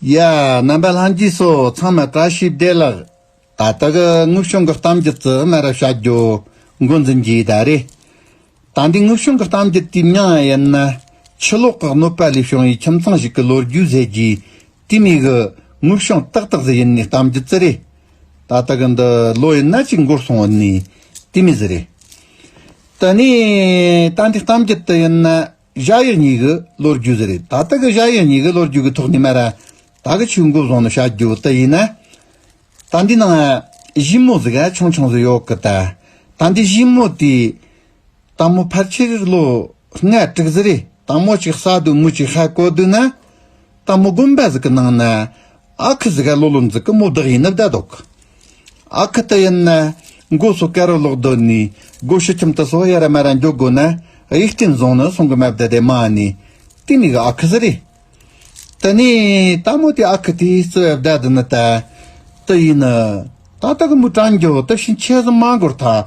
ཡ། རྣམ་པ་ལྷན་སྐྱེས་སོ་ཚང་མ་བཀྲ་ཤིས་བདེ་ལགས། ད་ལྟ་གི་དངུལ་གཞུང་གི་གཏམ་རྒྱུད་རྩི་མེད་ར་བྱ་རྒྱུ་འགོ་འཛིན་རྒྱུའི་ད་རེད། ད་འདི་དངུལ་གཞུང་གི་གཏམ་རྒྱུད་དུས་མྱང་ཡིན་ན། ཕྱི་ལོག་གི་གནོད་པ་ལས་བྱུང་བའི་ཁྱིམ་ཚང་ཞིག་གི་ལོ་རྒྱུས་ཟེར་རྒྱུའི་དུས་མི་གི་དངུལ་གཞུང་ཏག་ཏག་ཟེར་ཡིན་ནའི་གཏམ་རྒྱུད་རྩི་རེད། ད་ལྟ་གི་འདི་ལོ་ཡིན་ན་གཅིག་འགོར་སོང་ཡིན་ནའི་དུས་མི་ཟེར་རེད། དེ་ནས་ད་འདི་གཏམ་རྒྱུད་དུ་ཡིན་ན། བཞག་ཡས་ཉིད་ཀྱི་ལོ་རྒྱུས་ཟེར་རེད་ད་ལྟ་གི་བཞག་ཡས་ཉིད་ཀྱི་ལོ་རྒྱུས་ཀྱི་ཐོག་ནས་མ་རེད་ད་གི་ཆུ་འགོ་བཟང་ནས་བཞག་རྒྱུ་དེ་ཡིན་ན། ད་འདི་ནང་བཞི་མོ་ཟིག་ཧ་ཆང་ཆང་ཟིག་ཡོག་གི་ད་ད་འདི་བཞི་མོ་དེ། དང་མོ་ཕར་ཆེར་ལོ་ལྔ་དྲུག་ཟིག་རེད་དང་མོ་ཅིག་ས་དུ་མུ་ཅིག་ཧ་གོ་དུས་ན། ལྟ་མོ་སྒོམ་པ་གཟུགས་ཀྱི་ནང་ན། ཨ་ཁུ་གཟུགས་ཀ་ལོ་ལོ་འཛུག་གི་མོ་བདག་ཡིན་ནི་བདག་འདོག་གི། ཨ་ཁུ་དེ་ཡིན་ན། མགོ་སོ་ཀ་རུ་ལོག་སྡོད་ནས་སྒོ་ཕྱི་ཁྱིམ་དུ་སོ་ཡ་ར་མ་ར་འཇོག་དགོས་ན་ཡིག་སྐྲན་བཟུང་ནི་སོང་གི་མ་བདེ་དེ་མ་ནི་དེ་མིག་ཨ་ཁུ་ཟི་རེད། དེ་ནས་ལྟ་མོ་དེ་ཨ་ཁུ་དེ་བརྩི་བའི་བདག་དེ་ནི་ད་དུ་ཡིན་ནི། ད་ལྟ་གི་མོའི་དྲང་འགྱོག་དེ་བཞིན་ཆས་གཟུགས་མ་འགོར་ཐག་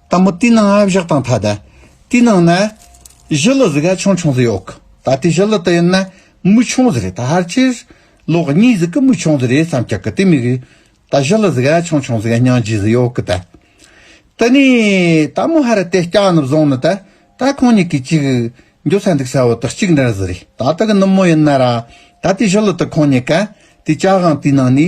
ལྟ་མོ་ཏི་ནང་ཨ་བཞག་དང་ཐ་དད། ཏི་ནང་ན། བཞི་ལོ་ཟི་ག་ཆུང་ཆུང་ཟི་ཡོག་གི། ད་ལྟའི་བཞི་ལོ་ཏི་ཡིན་ན། མུ་ཆུང་ཟི་རེད་ད་ཧར་ཆེར། ལོ་གཉིས་ཟི་གི་མུ་ཆུང་ཟི་རེད་བསམ་ཀྱག་གི་ཏི་མི་གི། ད་བཞི་ལོ་ཟི་ག་ཆུང་ཆུང་ཟི་ག་སྙང་རྗེ་ཟི་ཡོག་གི་ད། ཏི་ནི། ད་མོ་ཧར་ར་ཏེ་སྐྱག་ནི་བཟུང་ནི་ད། ད་ཁོང་གཉིས་ཀྱི་གཅིག། འགྱོ་ས་འདུག་ས་བོ་ཏི་གཅིག་འདྲར་ཟི་རེད་ད་ཏི་གི་ནུབ་མོ་ཡིན་ན་ར། ད་ལྟའི་བཞི་ལོ་ཏི་ཁོང་གཉིས་ཀ། ཏི་ཅག་གང་ཏི་ནང་ནི།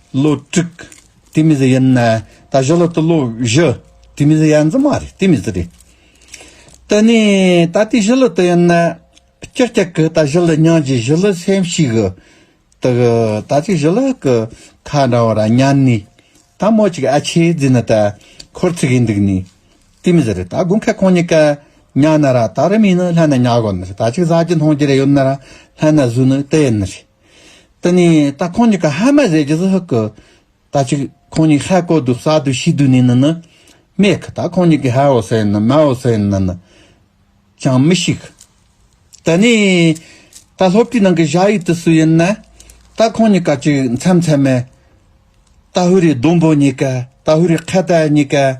བློ་དཀྲུགས། དེ་མི་ཟེར་ཡིན། ད་གཞི་ལ་དུ་བློ་བཞི། དེ་མི་ཟེར་ཡ་འཛི་མ་རེད་དེ་མི་ཟེར། དེ་ནས་ད་དེ་གཞི་ལ་དུ་ཡིན། ཀྱག་ཀྱག་གི་ད་གཞི་ལ་ཉང་གི་གཞི་ལ་སེམས་ཤིག། དེ་གི་ད་དེ་གཞི་ལ་གི་ཁ་འདྲ་བ་ར་ཉན་ནི། ད་མོ་ཅིག་ཨ་ཆེ་རྫི་ནི་ད་ཁོར་ཚིག་གི་འདུག་ནི། དེ་མི་ཟེར། ད་དགུན་ཁ་ཁོང་གཉིས་ཀ་ཉག་ན་ར་ད་རི་མིན་ནི་ལྷན་ན་ཉག་གོ་ནི་རེད་ད་ཅིག་ཟ་གྱི་འཐུང་གྱི་རེད་ཡོད་ན་ར་ལྷན་ན་བཟོས་ནི་དེ་ཡིན་ནི་རེད། དེ་ནས་ད་ཁོང་གཉིས་ཀ་ཧ་མ་ཟས་རྗེས་སུ་ཧུ་ཀི། ད་ཅིག་ཁོང་གཉིས་ཧ་གོ་དུ་ས་དུ་ཤི་དུ་ནས་ན་ནི། སྨྲས་ཀི་ད་ཁོང་གཉིས་ཀས་ཧ་འོ་སེ་ནི་མ་འོ་སེ་ནི་ན་ནི། ཅང་མི་ཤིག། དེ་ནས་ད་སློབ་གྲྭའི་ནང་གི་བྱ་ཡིག་དེ་སུ་ཡིན་ན། ད་ཁོང་གཉིས་ཀ་ཅིག་མཚམས་མཚམས་མས། ད་ཧུ་རའི་ལྡོམ་བུ་གཉིས་ཀ་ད་ཧུ་རའི་ཁ་བརྡ་གཉིས་ཀ།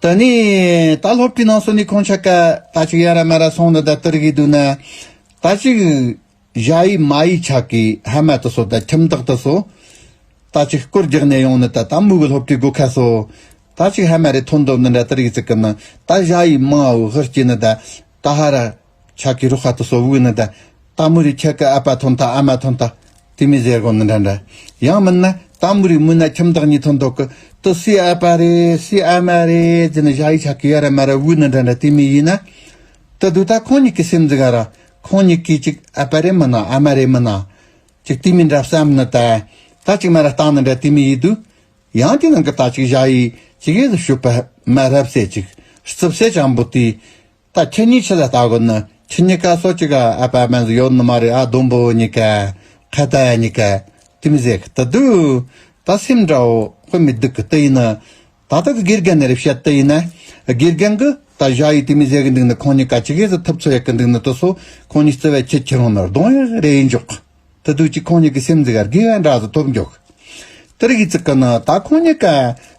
ད་ནི་ད་སློབ་ཁྲིད་གནང་སོང་ནི་ཁོང་ཆ་ཀ་ད་ཅིག་ཡ་ར་མ་ར་སོང་ན་ད་སྟེར་གི་འདུག་ན། ད་ཅིག་གཞའ་ཡི་མ་ཡི་ཆ་ཀི་ཧ་མ་ཏི་སོ་ད་ཁྱིམ་བདག་ཏི་སོ། ད་ཅིག་སྐོར་རྒྱག་ནས་ཡོང་ན་ད་ད་མུ་གི་སློབ་ཁྲིད་དགོས་ཁ་སོ། ད་ཅིག་ཧ་མ་རེ་ཐོན་འདོད་ན་ད་སྟེར་གི་ཙི་ཀི་ན་ད་གཞའ་ཡི་མ་འུ་ཧི་སྐྱི་ན་ད་ད་ཧ་ར། ཆ་ཀི་རུ་ཧ་ཏུ་སོ་བུའི་ནི་ད། ཏཱ་མུ་རི་ཁྱི་ཀི་ཨ་པ་ཐོན་ཐ་ཨ་མ་ཐོན་ཐ། དེ་མི་ཟེར་གོ་ནི་འདྲ་འདྲ། ཡང་མིན་ན་ཏཱ་མུ་རི་མུན་ན་ཁྱིམ་བདག་གཉིས་ཐོན་འདོག་གི། ཏུ་སི་ཨ་པ་རེ་སི་ཨ་མ་རེ་དེ་ནི་བཞག་ཡིག་ཆ་ཀི་ཡ་ར་མ་ར་བུའི་ནི་འདྲ་འདྲ་དེ་མི་ཡིན་ན། ཏུ་དུ་ད་ཁོང་གཉིས་ཀི་སེམས་འཛི་ག་ར། ཁོང་གཉིས་ཀི་ཅིག་ཨ་པ་རེ་མིན་ན་ཨ་མ་རེ་མིན་ན། ཅིག་དེ་མི་འདྲ་བསམ་ནི་ད། ད་ཅིག་མ་ར་སྟངས་ནི་འདྲ་དེ་མི་ཡིན་དུ། ཡང་དེ་ནང་གི་ད་ཅིག་བཞག་ཡིག་ཅིག་ཨེ་ཟི་ཞུ་པ་མ་རབས་སད་ཅིག་རྩིབ་སད་ཅང་པོ་དེ། ད་ཁྱེད་གཉིས་ཆི་ལ་ལྟ་གོ་ནི་ཁྱི་གཉིས་ཀ་སོ་གཅིག་ཨ་ཨ་པ་པན་ཟི་ཡོད་ནི་མ་རེད་ཨ་དུམ་བུ་གཉིས་ཀ་ཁ་ཏ་ཡ་གཉིས་ཀ་ཏི་མི་ཟེ་གི་ཏི་སྡུག་ད་སེམས་འདྲ་བོ་དཔེ་མི་སྡུག་གི་ཏི་ཡིན་ནི་ད་ལྟ་གི་དགེ་རྒན་ནི་རེ་བཤད་ཏི་ཡིན་ན་དགེ་རྒན་གི་ད་བཞག་ཡིས་ཏི་མི་ཟེ་གི་འདུག་ནི་ཁོང་གཉིས་ཀ་ཅི་གེ་ཟི་ཐུབ་ཚོད་ཡག་གི་འདུག་ནི་ཏི་སོ་ཁོང་གཉིས་བརྩེ་བས་ཁྱི་ཁྱི་རང་ནི་རྡུང་ཡི་རེད་ཡིན་འཇོག་གི། དུ་དུས་གཅིག་ཁོང་གཉིས་ཀྱི་སེམས་འཛིག་རྒས་འདྲ་ཟུག་ཐོབ་མགྱོགས། དེར་ཡིད་ཚིག་གི་ནི་ད་ཁོང་གཉིས་ཀ་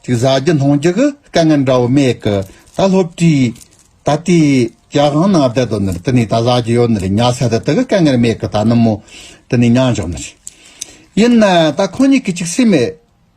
ཅིག་བཟའ་རྒྱུ་འཐུང་རྒྱུ་གི་དཀའ་ངལ་འདྲ་བོ་མེད་གི། ད་སློབ་གྲྭའི་ད་ལྟའི་རྒྱ་གང་ན་བསྡད་དོ་ནི་དེ་ནས་ད་བཟའ་རྒྱུ་ཡོད་ནི་རེད་ཉལ་ས་དེ་དག་གི་དཀའ་ངལ་མེད་གི་ད་ནུབ་མོ་དེ་ནས་ཉལ་འཇོག་ནི་རེད། ཡིན་ན་ད་ཁོང་གཉིས་ཀྱི་ཅིག་སེམས་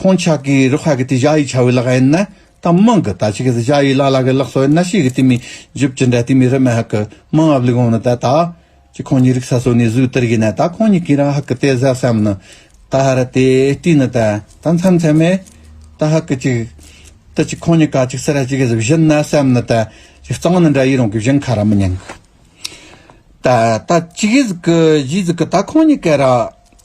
ཁོང་ཅག་གིས་རུ་ཁག་གི་དེ་བཞག་ཡིག་བྱ་བའི་ལག་ཡིན་ན་དང་དམངས་ཀྱི་ད་ཅི་གི་དེ་བཞག་ཡིག་ལ་ལ་གི་ལག་སོགས་ཡིན་ན་ཤེས་གི་དེ་མི་འཇུབ་ཅི་འདྲ་དེ་མི་རེ་མ་ཧག་གི་དམངས་ཨབ་ལི་གོང་ནི་ད་ད་ཅི་ཁོང་གཉིས་རིག་ས་སོ་ནི་བཟོས་དེར་གི་ན་ད་ཁོང་གཉིས་གིས་རང་ཧག་གི་དེ་ཟ་སམ་ནི་ད་ཧ་ར་དེ་དྲིས་ནི་ད་ད་མཚམས་མཚམས་མེད་ད་ཧག་གི་ཅིག་ད་ཅི་ཁོང་གཉིས་ག་ཅིག་སེ་ར་ཅི་གི་ཟི་བཞིན་ན་སམ་ནི་ད་ཅི་གཙང་ནི་འདྲ་ཡིག་རང་གི་བཞིན་ཁ་ར་མི་ཉན་གི་ད་ད་ཅི་གི་ཟི་གི་གཞིས་ཟི་གི་ད་ཁོང་གཉིས་ག་ར་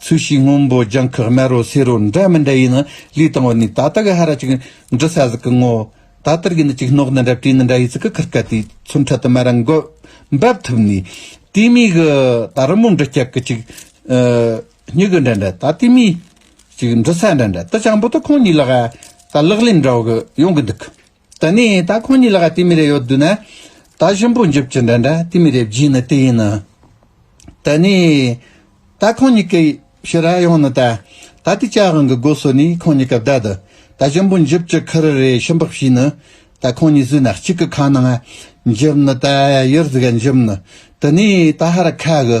ཚོས་གཞིས་སྔོན་པོ་རྒྱང་ཁག་དམའ་རུ་སེ་རུ་འདྲ་མི་འདྲ་ཡིན་ནི་ལུས་དང་བ་ནི་ད་ལྟ་གི་ཧ་ར་ཅིག་འབྲི་ས་ཟིག་གི་ངོ། ད་ལྟར་གྱི་ནི་ཅིག་སྣོག་ནི་འདྲ་བྲིས་ནི་འདྲ་ཡི་ཚིག་གི་ཁུར་ཁ་དེའི་ཚུར་འཕྲལ་དུ་དམའ་ར་འགོད་འབབ་ཐུབ་ནས། དེའི་མིག་གི་ད་རི་མོ་འབྲི་སྐྱག་གི་ཅིག། སྙི་གི་འདྲ་འདྲ་ད་ལྟའི་མིས་ཅིག་འབྲི་ས་འདྲ་འདྲ་དུ་ཅང་པོ་ཏོ་ཁོང་གཉིས་ལ་ཧ་ད་ལག་ལེན་འདྲ་བོ་གི་ཡོང་གི་འདུག་གི། ད་ནི་ད་ཁོང་གཉིས་ལ་ག་ཏི་མི་རེ་ཡོད་འདུག་ན། ད་གཞོན་པོ་འཇིབ་ཀྱི་འདྲ་འདྲ་ཏི་མི་རེ་བགྱིས་ནི་ཏི་ཡིན་ནོ། ད་ནི། ད་ཁོང་གཉིས་ཀྱི་ཕྱི་ར་ཡོང་ནི་ད། ད་ཏི་ཅག་རང་གི་སྒོ་སོ་ནི་ཁོང་གཉིས་ཀ་བདའ་འདུག་ད་གཞོན་པོ་འཇིབ་ཀྱི་ཁུ་རུ་རེ་ཤི་འབག་བྱས་ནི། ད་ཁོང་གཉིས་བཟོས་ན་གཅིག་གི་ཁ་ནང་འཇིབ་ནི་ད་ཡུར་ཟི་ག་འཇིབ་ནི། ད་ནི་ད་ཧ་ར་ཁ་གི།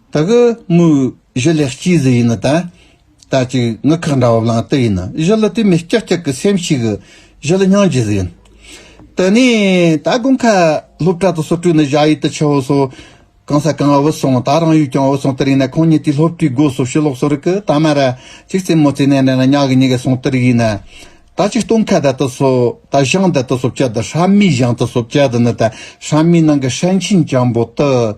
ད་གི་དངོས་གཞི་ལེགས་སྐྱེས་ཟི་ཡིན་ད། ད་ཅིག་ངུ་ཁག་འདྲ་བ་ལང་དི་ཡིན། གཞི་ལ་དེ་མི་སྐྱག་སྐྱག་གི་སེམས་ཤིག། གཞི་ལ་སྙིང་རྗེ་ཟི་ཡིན། དེ་ནས་ད་དགུན་ཁ་སློབ་གྲྭ་དུ་སོར་དྲུག་ནས་བཞག་ཡུལ་དུ་ཆུ་བོ་སོ། གང་ས་གང་འུར་སོང་ད་རང་ཡུལ་ཀྱང་འུར་སོང་དི་རིང་ན་ཁོང་གཉིས་དེའི་སློབ་གྲྭའི་སྒོ་སོ་ཕྱི་ལོགས་སོ་རི་གི་ད་མ་ར་ཅིག་རྩེད་མོ་རྩེད་ནས་ནས་ན་ཉག་གི་ཉི་ག་སོང་དི་རིག་ཡིན། ད་ཅིག་སྟོང་ཁ་ད་དུ་སོ་ད་ཞང་ད་དུ་སོ་བཅའ་ད་ཧྲ་མིའི་ཞང་དུ་སོ་བཅའ་དི་ནི་ད་ཧྲ་མིའི་ནང་གི་ཧྲན་ཆིན་ཅང་པོ་དི།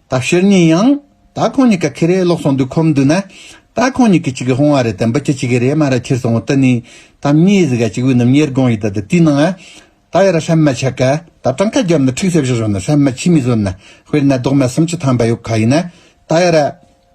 ད་ཕྱིར་ཉིན་ཡང། ད་ཁོང་གཉིས་ཀ་ཁེ་རེ་ལོག་སོང་འདུག་ཁོམ་འདུག་ན། ད་ཁོང་གཉིས་ཀྱི་གཅིག་གི་ཧོང་བ་རེད་དམ་འབུ་ཁྱི་གཅིག་གི་རེད་མ་ར་ཁྱིར་སོང་ད་ནི། ད་མྱི་ཡི་ཟི་ག་གཅིག་བུ་རྣམས་ཉེར་དགོང་ཡི་ད་ད་དུས་ནང་ཨ། ད་ཡ་ར་ཧྲན་མ་ཆ་ག་ད་གྲངས་ཁ་བརྒྱབ་ན་ཁྲིགས་སེ་བཞི་ཞོག་ན་ཧྲན་མ་ཁྱི་མི་བཟོད་ན་དཔེར་ན་རྡོག་མ་སུམ་ཅུ་ཐམ་པ་ཡོག་ག་ཡིན་ན། ད་ཡ་ར།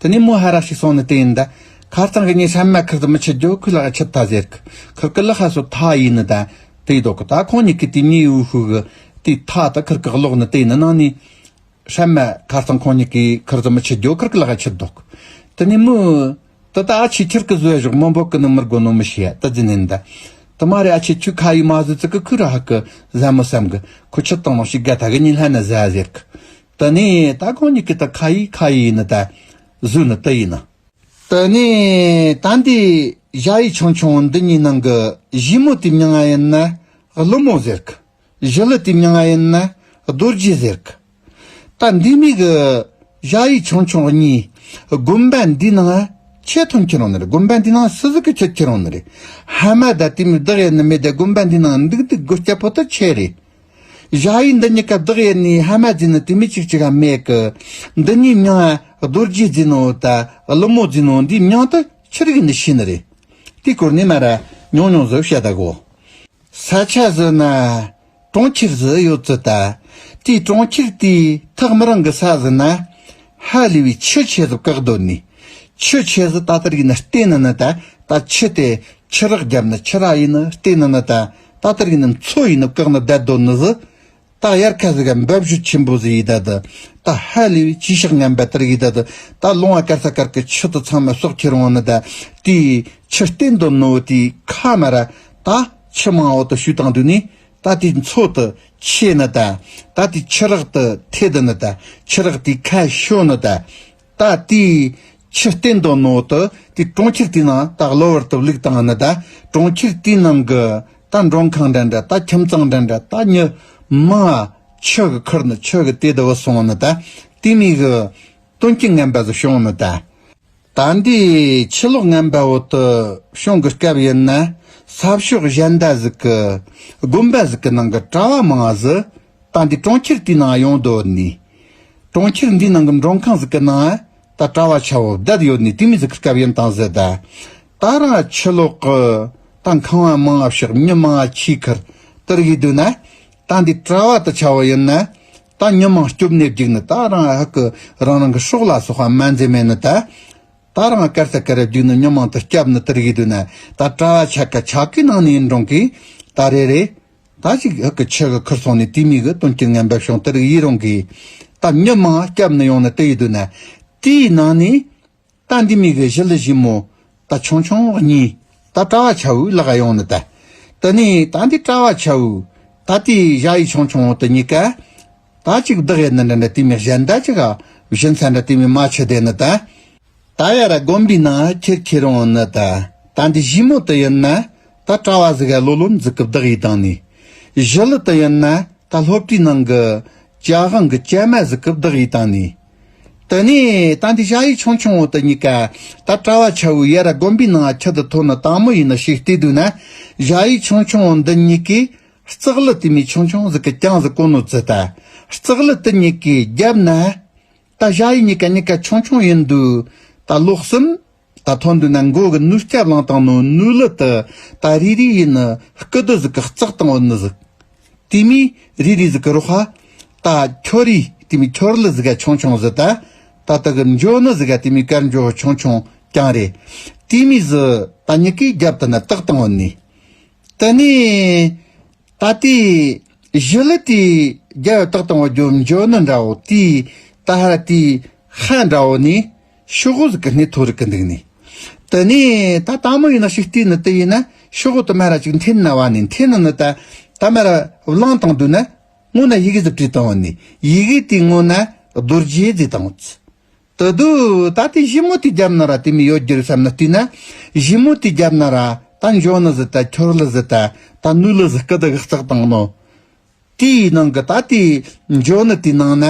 དེ་ནས་མོ་ཧ་ར་ཞིག་སོང་ནས་དེ་ཡིན་ད། ཁ་རྩང་གི་ཉེས་ཆ་མ་ཁུར་དུ་མི་ཆུད་རྒྱུ་ཁོས་ལག་ཡ་ཆད་ད་ཟེར་གི། ཁུར་གི་ལག་ཧ་སོ་ཐ་ཡིན་ནི་ད། དེ་ཡི་དོག་གི་ད་ཁོང་གཉིས་ཀྱི་དུས་ཉེ་ཡིའུ་ཤུག་གི། དུས་ཐ་དི་ཁུར་གི་གློག་ནི་དེ་ཡིན་ནི་ནང་ནས། ཧྲན་མ། ཁ་རྩང་ཁོང་གཉིས་ཀྱིས་ཁུར་དུ་མི་ཆུད་རྒྱུ་ཁུར་གི་ལག་ཡ་ཆད་དོག་གི། དེ་ནས་མོ། དི་ད་ཨ་ཆེ་ཁྱིར་གི་བཟོས་བཞག་མོ་འབོག་གི་ནི་མི་རྒོ་ནོ་མི་ཤེས་ཡ་ད་རྫི་ནི་ནི་ད། དི་མ་རེ་ཨ་ཆེ་ཁྱོས་ཁ་ཡིའུ་མ་བཟོས་ཙི་གི་ཁུར་ཧ་གི། བཟའ་མོ་བསམ་གི། ཁོས་ཆུ་དང་ནང་ཞིག་ག་ད་གི་ཉིན་ལྷ་ནི་བཟའ་ཟེར་གི། དེ་ནས་ད་གང་ཉིད་ཀྱི་ད་ག་ཡིས་ཁ་ཡིས་ནི་ད་གཟུགས་ནི་ཏི་ཡིས་ནི། དེ་ནས་ད་འདི་གཞའ་ཡི་ཆང་ཆུང་འདི་གཉིས་ནང་གི་གཞི་མོ་དེ་མྱ་ང་ཡིན་ན་ཀླུ་མོ་ཟེར་གི། གཞི་ལུ་དེ་མྱ་ང་ཡིན་ན་རྡོ་རྗེ་ཟེར་གི། ད་འདི་གཉིས་ཀྱི་གཞའ་ཡི་ཆང་ཆུང་གཉིས་དགོན་པ་འདི་ནང་ཆེ་མཐོང་ཁྱེད་རང་ནི་རེད་དགོན་པ་འདི་ནང་སུ་ཟིག་གི་ཁྱོད་ཁྱེད་རང་ནི་རེད་ཧ་མ་ད་དེ་མི་བདག་ཡ་ནི་མི་བདག་དགོན་པ་འདི་ནང་འདུག་འདུག་དགོས་སྐྱ་པོ་ཏི་ཁྱེད་རེད། བཞག་ཡིག་འདི་གཉིས་ཀ་བདག་ཡེ་ནས་ཧ་མ་འཛིན་ནོ་དེ་མི་གཅིག་ཅིག་གམ་མེད་ཀི། འདི་གཉིས་མྱང་ཨ་རྡོ་རྗེས་འཛིན་ནོ་ད་ཀླུ་མོ་འཛིན་ནོ་འདིས་མྱང་དུ་ཕྱིར་ཡིན་ནི་ཤེས་ནི་རེད། དེའི་སྐོར་ནས་མ་ར་མྱོང་མྱོང་བཟོ་བྱ་ད་གོ། ས་ཆ་བཟོས་ན་གྲོང་ཁྱེར་བཟོས་ཡོད་ཚོད་ད། དེའི་གྲོང་ཁྱེར་དེའི་ཐག་མི་རང་གི་ས་བཟོས་ན། ཧ་ལས་པའི་ཆུ་ཆེ་ཟིག་བཀག་སྡོད་ནི། ཆུ་ཆེ་ཟིག་ད་ལྟར་ཡིན་ནི་ལྟས་ན་ནི་ད་ད་ཆུ་དེ་ཆུ་རགས་བརྒྱབ་ནི་ཆུ་རགས་ཡིན་ནི་ལྟས་ན་ནི་ད་ད་ལྟར་ཡིན་ནམ་མཚོ་ཡིན་ནམ་བཀག་ན་བདལ་དོ་ནི་ཟི། ད་ཡར་ཁ་ཟི་ག་འབབ་བཞུ་ཆེན་པོ་ཟི་ཡི་ད་དི། ད་ཧ་ལི་བི་ཅི་ཤག་ངན་བལ་དར་ཡི་ད་དི། ད་ལུང་བ་ཀར་ས་ཀར་གི་ཆུ་དི་ཚང་མ་སོག་ཁྱེར་འོང་ནི་ད་དི། ཆུ་སྟེན་དོ་ནི་བུ་དི་ཁ་མ་ར། ད་ཆུ་མང་བོ་དི་ཞུ་དང་དུ་ནི། ད་དི་མཚོ་དི་ཆེ་ནི་ད། ད་དི་ཆུ་རག་དི་ཐེ་དི་ནི་ད། ཆུ་རག་དི་ཁ་ཤོ་ནི་ད། ད་ལྟའི་ཆུ་གཏེར་མདོ་ནོར་དུ་དེ་གྲོང་ཁྱེར་དེའི་ནང་ད་གློ་བུར་དུ་བླུགས་དང་ནི་ད་གྲོང་ཁྱེར་དེའི་ནང་གི་ད་མགྲོན་ཁང་འདྲ་འདྲ་ད་ཁྱིམ་ཚང་འདྲ་འདྲ་ད་ཉི་མ་ཆུ་གི་ཁུར་ནི་ཆུ་གི་དེ་དུ་བུ་སོང་ནི་ད་དེ་མིག་གི་སྟོན་སྐྱི་རྔན་པ་ཟི་ཤོང་ནི་ད། ད་འདི་ཕྱི་ལོགས་རྔན་པ་འོག་ཏུ་ཤོང་གི་སྐབས་ཡིན་ན་ས་ཕྱོགས་གཞན་ད་ཟིག་གི་དགོན་པ་ཟིག་གི་ནང་གི་གྲྭ་བ་མང་ཟི་ད་འདི་གྲོང་ཁྱེར་དེའི་ནང་ཡོང་དོ་ནི། གྲོང་ཁྱེར་འདིའི་ནང་གི་མགྲོན་ཁང་ཟིག་གི་ནང་ད་གྲྭ་བ་ཆ་བོ་བརྒྱད་ཡོད་ནི་དེ་མི་ཟིག་གི་སྐབས་ཡིན་དང་ཟེར་ད། ད་རང་ཕྱི་ལོག་གི་ད་ཁང་བ་མང་ང་ཕྱོགས་མྱི་མང་ང་ཁྱིའི་ཁར་དིར་གི་འདུག་ན། ད་འདི་གྲྭ་བ་ད་ཆ་བོ་ཡིན་ན། ད་མྱི་མང་སྐྱོབ་གནས་བརྒྱུགས་ནི་ད་རང་ཧ་གི་རང་རང་གི་ཕྱོགས་ལ་སོག་བ་མ་འཛེ་མེད་ནི་ད། ད་རང་སྐར་ཚ་སྐར་ར་བརྒྱུགས་ནི་མྱི་མང་ད་སྐྱབས་ནི་དིར་གི་འདུག་ན་ད་གྲྭ་བ་ཆ་གི་ཆ་གི་ནང་ནི་ཡིན་འགྲོང་གི་ད་རེ་རེ། ད་ཅིག་ཨི་གི་ཆེ་གི་ཁུར་སོང་ནས་དུས་མི་གི་དོན་གྱི་ངན་པའི་ཤོང་དེར་ཡི་རང་གི། ད་མྱི་མང་སྐྱབས་ནི་ཡོང་ནི་དེ་ཡི་དུས་ན། དེའི་ནང་ནས། ད་འདི་མི་གི་གཞི་ལི་བཞི་མོ། ད་ཆུང་ཆུང་གཉིས། ད་གྲྭ་བ་ཆ་བུའི་ལག་ཡོང་ནི་ད། དེ་ནས་ད་འདི་གྲྭ་བ་ཆ་བུ། ད་དེའི་གཞའ་ཡི་ཆུང་ཆུང་དེ་གཉིས་ཀ། ད་ཅིག་བདག་ཡི་ནི་འདྲ་འདྲ་དུས་མི་གཞན་ད་ཅིག་ག། བཞི་མཚན་འདྲ་དུས་མི་མ་ཆུ་དེ་ནི་ད། ད་ཡ་ར་དགོན་པའི་ནང་ཁྱེར་ཁྱེར་རང་ཨེ་ནི་ད། ད་འདི་བཞི་མོ་དུ་ཡིན་ན་ད་གྲྭ་བ་ཟིག་ཨེ་ལོ་ལོ་འཛུགས་སྐུ་བདག་ཡིས་དང་ནས། བཞི་ལི་དུ་ཡིན་ན་ད་སློབ་གྲྭའི་ནང་གི་བཅའ་དབང་གི་བཅའ་མ་ཟིག་སྐུ་བདག་ཡིས་དང་ནས། དུ་ནས་ད་འདི་བྱ་ཡིས་ཆུང་ཆུང་བོ་དུ་གཉིས་ཀ་ད་གྲྭ་བ་ཆ་བོའི་ཡ་ར་དགོན་པའི་ནང་ཁྱི་དུ་ཐོ་ནི་དང་མོ་ཡིས་ནི་ཞིག་བལྟས་དུས་ན། བྱ་ཡིས་ཆུང་ཆུང་བོ་འདི་གཉིས་ཀས་རྩག་ལི་དེ་མའི་ཆུང་ཆུང་ཟིག་གི་རྐྱང་ཟིག་གོ་ནོ་ཙི་ད་རྩག་ལི་དི་གཉིས་ཀས་རྒྱབ་ན། ད་བཞག་ཡིག་གཉིས་ཀ་གཉིས་ཀ་ཆུང་ཆུང་ཡིན་འདུག་ད་ལོག་གསུམ། ད་མཐོ་འདུག་ན་མགོ་གི་ནུས་སྐྱབས་ལངས་སྟངས་ནོ་ནུས་ལི་ཏི་ད་རི་རི་ཡིས་ནི་སྐུ་དུ་ཟིག་གི་རྩག་དང་འོད་ནི་ཟིག། དེ་མིས་རི་རི་ཟིག་གི་རོ་ཧ། ད་ཁྱོ་རི་དེ་མིས་ཁྱོར་ལི་ཟིག་ག་ཆུང་ཆུང་ཟི་ད། ད་ད་གི་འཇོ་ནི་ཟིག་ག་དེ་མིས་ཀར་འཇོ་ཧ་ཆུང་ཆུང་ཀྱང་རེད། དེ་མིས་ཟི་ད་གཉིས་ཀའི་རྒྱབ་ཏུ་ནི་རྟག་དང་འོད་ནི། དི་ནི། ད་ལྟའི་གཞི་ལུགས་དེའི་རྒྱལ་བའི་རྟགས་དང་བ་རྒྱུ་འབྱོར་ནི་འདྲ་བོ་དེའི་ད་ཧ་ར་དེའི་ཧ་འདྲ་བོ་ནི་ཤོག་ཧུ་ཟིག་གི་སྣེ་ཐོ་རིག་གི་འདུག་ནི། དེ་ནས་ད་ད་མོ་ཡིན་ན་ཤུག་ཏི་ནི་དེ་ཡིན་ན་ཤོག་ཧུ་དུ་མ་ར་ཅིག་འཐེན་ན་བ་ནི་འཐེན་ན་ནི་ད་ད་མ་ར་བླངས་དང་བསྡུ་ན་སྔོན་ན་ཡི་གེ་ཟིག་བྲིས་དང་བ་ནི་ཡི་གེ་དེའི་སྔོན་ན་རྡོ་རྗེ་ཟིག་དང་བུ། ད་དུང་ད་ལྟའི་གཞི་མོ་དེ་རྒྱབ་ན་ར་དེ་མི་ཡོད་རྒྱུ་རེད་བསམ་ན་བལྟོས་ན། གཞི་མོ་དེ་རྒྱབ་ན་ར་ད་འཇོག་ན་ཟི་ད་ཁྱོར་ལ་ཟི་ད་ད་ནུ་ལ་ཟི་སྐད་དགག་རྩག་བཏང་ནོ། དེའི་ནང་གི་ད་དེ་འཇོག་ན་དེའི་ནང་ན་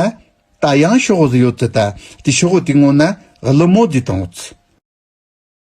ད་ཡང་ཤོག་བུ་ཟི་ཡོད་ཟི་ད་དེ་ཤོག་བུ་དེ་ངོ་ན་གླུ་མོ་དེ་དང་བུ་ཟི།